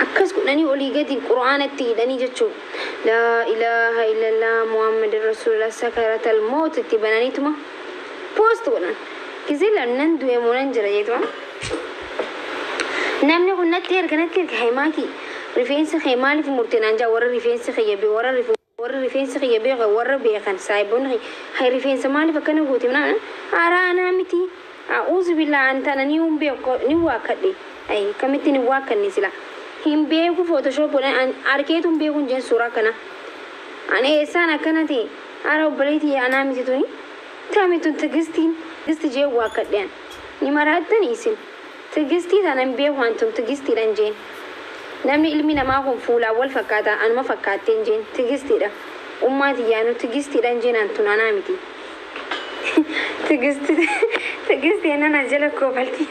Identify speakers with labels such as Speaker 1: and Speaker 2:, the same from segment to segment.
Speaker 1: Akkas godhanii olii gadi Qur'aana itti hidhanii jechuun Laa ilaaha illallaah Muhammadun Rasuulullaah Sakaratal mawt itti bananiituma post godhan. Gizee laalu nan du'e moo nan jira jeetuma Namni kun natti erga natti erga Haymaatii rifeensa kee maaliif murte naan ja'a warri rifeensi kiyya bee warra rifuu Warri rifeensa kiyya beekan warra beekan saahibonni kiyya hay rifeensa maaliif akkana goote naan aaraa anaa miti a'uuzubillaah an tana ni hin beeku ni waakkadhe hay akkamittin hin waakkanne sila hin beeku photoshop godhan an arkeetu hin beeku hin jeen suuraa akkanaa an eessaan akkana ta'e ara obbolee tiyya anaa miti tuni tami tun tigistiin tigisti jeen waakkadhe an ni maraattani isin. Tigistii tana hin beeku an tun tigistiidhan jeen namni ilmi namaa kun fuulaan wal fakkaata anuma fakkaatteen jeen tigistiidha ummaa tiyyaanu tigistiidhan jeen an tun anaa miti tigisti tigisti jennan as jala kofalti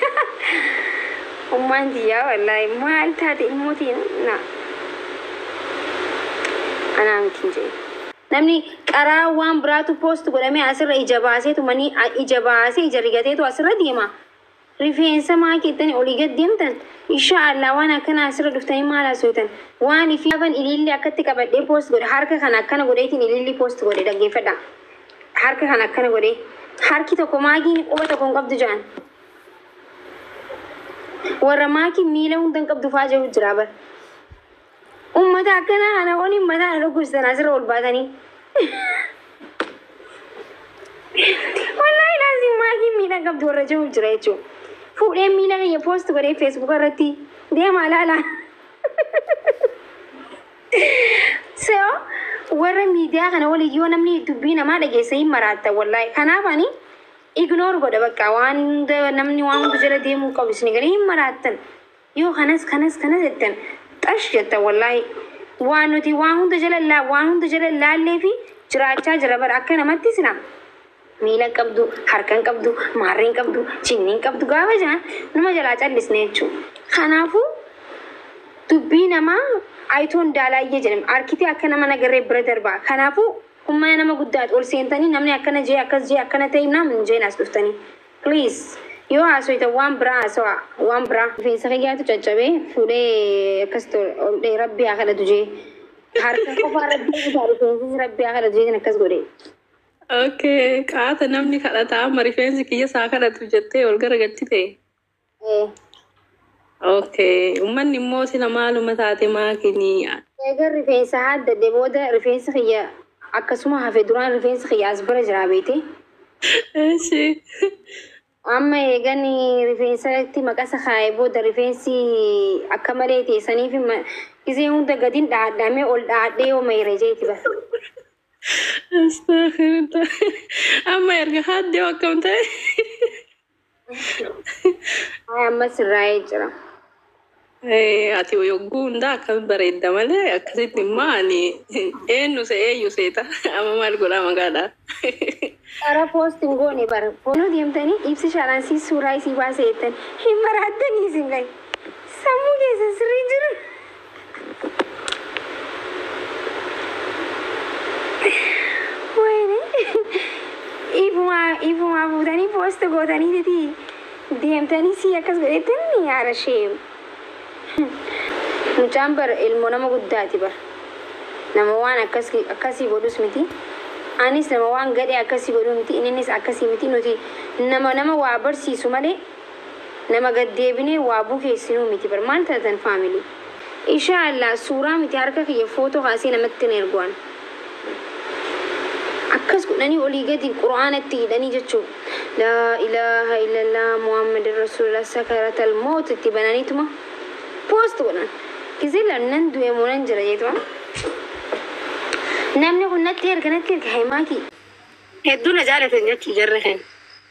Speaker 1: ummaan tiyyaa wallaahi maal taate ilmoo tiyya na anaa miti jeen. Namni qaraa waan biraatu post godhamee asirra ija baasee tumanii ija baasee ija rigateetu asirra deema. Rifeensa maa keettani olii gad deemtan ishaa Allah waan akkana asirra dhuftani maal hasoytan waan ifii gaafan iliilli akkatti qabadhee post godhe harka kana akkana godheetin iliilli post godhe dhaggeeffadha harka kana akkana godhee harki tokko maakiin quba tokko hin qabdu ja'an warra maakiin miila hunda hin qabdu fa'aa jedhu jira bar Ummata akkanaa kana waliin mataa na dhukkubsitan asirra ol baatanii. Wallaahi laazim maatii miidhaan qabdu warra jiruuf jira jechuudha. Fuudheen miila kiyya poost godhee feesbuuk irratti deemaa laala. So warra miidiyaa kana waliin yoo namni dubbii namaa dhageessa hin maraatta wallaahi. Kanaaf ani ignoor godha bakka waan hunda namni waan hunda jala deemuu qabu isin galee hin maraattan. Yoo kanas kanas kanas jettan xash jettan wallahi. Waan nuti waan hunda jala laa waan hunda jala laallee fi jiraachaa jira bara akka namatti sila miila hin qabdu harka hin qabdu maarree hin qabdu jinni hin qabdu gaafa jaan numa jalaa callisne jechuu. Kanaafuu dubbii namaa ayitoon daalaayyee jedhama arkitee akka nama nagarree bira darbaa kanaafuu ummana nama guddaati ol seentanii namni akkana jee akkas jee akkana ta'e naam hin jeen as dhuftanii. Please yoo haasoytan waan biraa haasawaa waan biraa. Rifeensa kiyyaatu caccabe fuudhee akkasitti ol dhee rabbi haa kadhatu jee harka qofaa rabbi kutaa rifeensas rabbi haa kadhatu jeetin akkas godhe. Okay,
Speaker 2: qaata namni kadhataa amma rifeensi kiyya isaa kadhatu jettee ol garagalchite. Okay. Ummanni immoo sila maaluma taate maakinii? Eegan rifeensa
Speaker 1: haaddadhe booda rifeensi kiyya akkasuma hafe duraan rifeensi kiyya as bira jiraa beekte. Eeshi. Amma eegan rifeensatti maqasa kaa'e booda rifeensi akka malee ta'e saniif ma- gizee hunda gadin dhahadhamee ol dhahadhee yoo mayre jeeti bara.
Speaker 2: Astaghfirullah. Amma erga haaddee akkam ta'e?
Speaker 1: Ay amma sirraa'ee jira.
Speaker 2: Eh, Ati yogguu hundaa akkami bareedda malee akkasitti immoo ani eenyu se eenyu seeta amma maal godhaa magaadhaa.
Speaker 1: Qara poost hin goone bara. Foonoo deemtanii ibsi shaaraan si suuraa isii baasee jettan. Hin maraattanii isin kan. Sammuu keessa sirrii jiru. Wayne ifuma ifuma fuutanii post gootanii titi deemtanii si akkas godhetti ni yaara sheem. Mucaan bar ilmoo nama guddaati bar. Nama waan akkas akkasii godhus miti. Anis nama waan gadhee akkasii godhu miti. Innis akkasii miti. Nuti nama nama waa barsiisu malee Nama gad deebinee waa bukeessinuu miti bar maal taatan family isha allah suuraa miti harka kiyya photo kaasee namatti hin ergu an akkas godhanii olii gadi qur'aana itti hidhanii jechuu laa ilaaha illallah muhammadin rasuulillah sakaratal mawt itti bananiituma post godhan gizee lan nan du'e moo nan jira jeetuma namni kun natti erga natti erga haymaatii hedduu na jaalatan jechuu jarri keenya.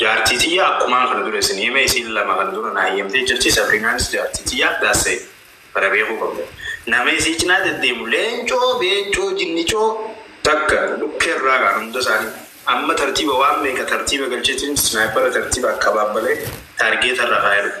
Speaker 3: Jaartii tiyya akkumaan kana dura isin hime isiin lama kana dura naa heyyamtee jirti sabriinaanis jaartii tiyyaaf that's said kana beekuu qabdan nama isii cinaa deddeemu leencoo beencoo jinnicoo takka dhukkee irraa kaan hunda isaanii amma tartiiba waan meeqa tartiiba galcheetiin snaaypara tartiiba akka abaabbalee taargeeta irra kaayee dhufa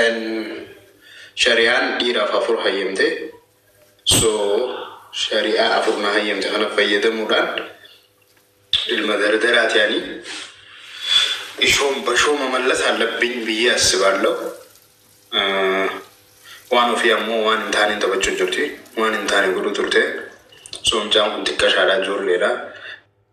Speaker 3: And shariyaan dhiiraaf afur hayyamte so shari'aa afur na hayyamte kana fayyadamuudhaan ilma dardaraa ta'anii ishoon bashoo mamallas hallabbiin biyya assibaallau waan ofii ammoo waan hin taaneen taphachuu jirti waan hin taane godhuu turte so mucaan kun xiqqashaadha ijoolleedha